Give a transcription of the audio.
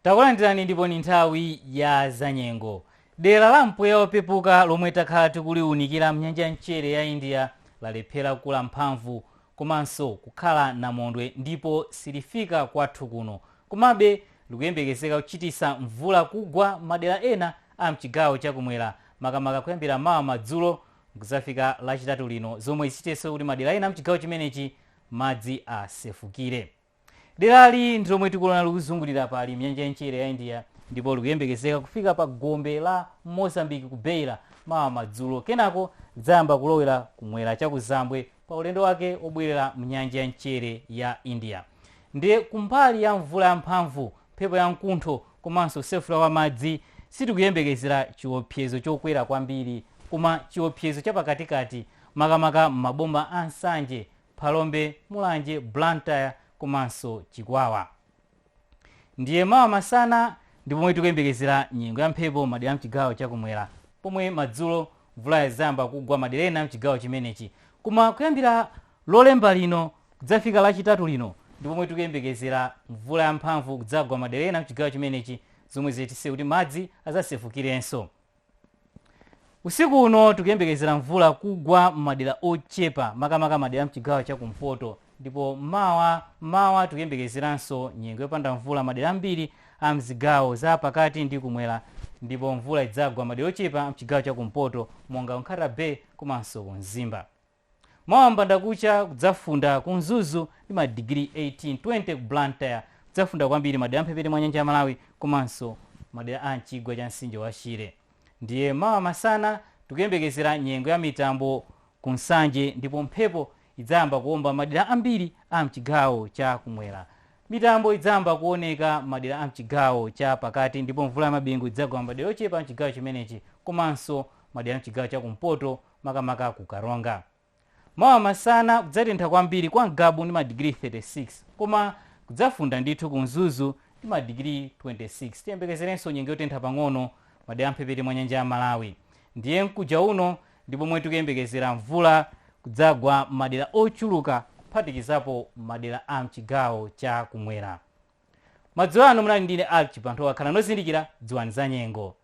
Takulandirani ndipo ni nthawi ya zanyengo. Dera la mpweya opepuka lomwe takhala tikuliunikira mnyanja ya mchere ya India lalephera kukula mphamvu komanso kukhala namondwe ndipo silifika kwathu kuno. Komabe likuyembekezeka kuchitisa mvula kugwa madera ena a mchigawo cha kumwera makamaka kuyambira mawa madzulo mkuzafika lachitatu lino zomwe zichititse kuti madera ena a mchigawo chimenechi madzi asefukire. Derali ndi lomwe tikuliona likuzungulira pali mnyanja ya mchere ya India ndipo likuyembekezeka kufika pa gombe la Mozambique ku Beira mawa madzulo kenako lidzayamba kulowera kumwera cha kuzambwe pa ulendo wake obwerera mnyanja ya mchere ya India. Ndiye kumbali ya mvula ya mphamvu, mphepo ya mkuntho komanso kusefukira kwa madzi sitikuyembekezera chiopsezo chokwera kwambiri koma chiopsezo chapakatikati makamaka m'maboma a Nsanje, Phalombe, Mulanje, Blantyre komanso Chikwawa. Ndiye mawa masana ndi pomwe tikuyembekezera nyengo ya mphepo m'madera a m'chigawo cha kumwera pomwe madzulo mvula idzayamba kugwa madera ena a m'chigawo chimenechi. Koma kuyambira Lolemba lino kudzafika Lachitatu lino ndi pomwe tikuyembekezera mvula yamphamvu kudzagwa madera ena a m'chigawo chimenechi zomwe zichititse kuti madzi adzasefukirenso. Usiku uno tikuyembekezera mvula kugwa m'madera ochepa makamaka madera amchigawo chakumpoto ndipo mawa mmawa tikuyembekezeranso nyengo yopanda mvula madera ambiri a mzigawo za pakati ndi kumwera ndipo mvula idzagwa madera ochepa amchigawo chakumpoto monga ku Nkhata Bay komanso ku Mzimba. Mawa mbandakucha kudzafunda ku Mzuzu ndi madigiri 18, 20 ku Blantyre. Kudzafunda kwambiri madera a m'mphepete mwa nyanja ya Malawi komanso madera a m'chigwa cha mtsinje wa Shire. Ndiye mawa masana tikuyembekezera nyengo ya mitambo ku Nsanje ndipo mphepo idzayamba kuomba m'madera ambiri a m'chigawo cha kumwera. Mitambo idzayamba kuoneka m'madera a m'chigawo cha pakati ndipo mvula ya mabingu idzagwa m'madera ochepa a m'chigawo chimenechi komanso madera a m'chigawo cha kumpoto makamaka ku Karonga. Mawa masana kudzatentha kwambiri kwa Ngabu ndi madigiri 36 koma kudzafunda ndithu ku Mzuzu ndi madigiri 26. Tiyembekezerenso nyengo yotentha pang'ono madera amphepete mwa nyanja ya Malawi. Ndiye mkuja uno ndi pomwe tikuyembekezera mvula kudzagwa m'madera ochuluka kuphatikizapo madera a mchigawo cha kumwera. Madzulo ano munali ndine Alick Chibanthowa, khalani ozindikira, dziwani za nyengo.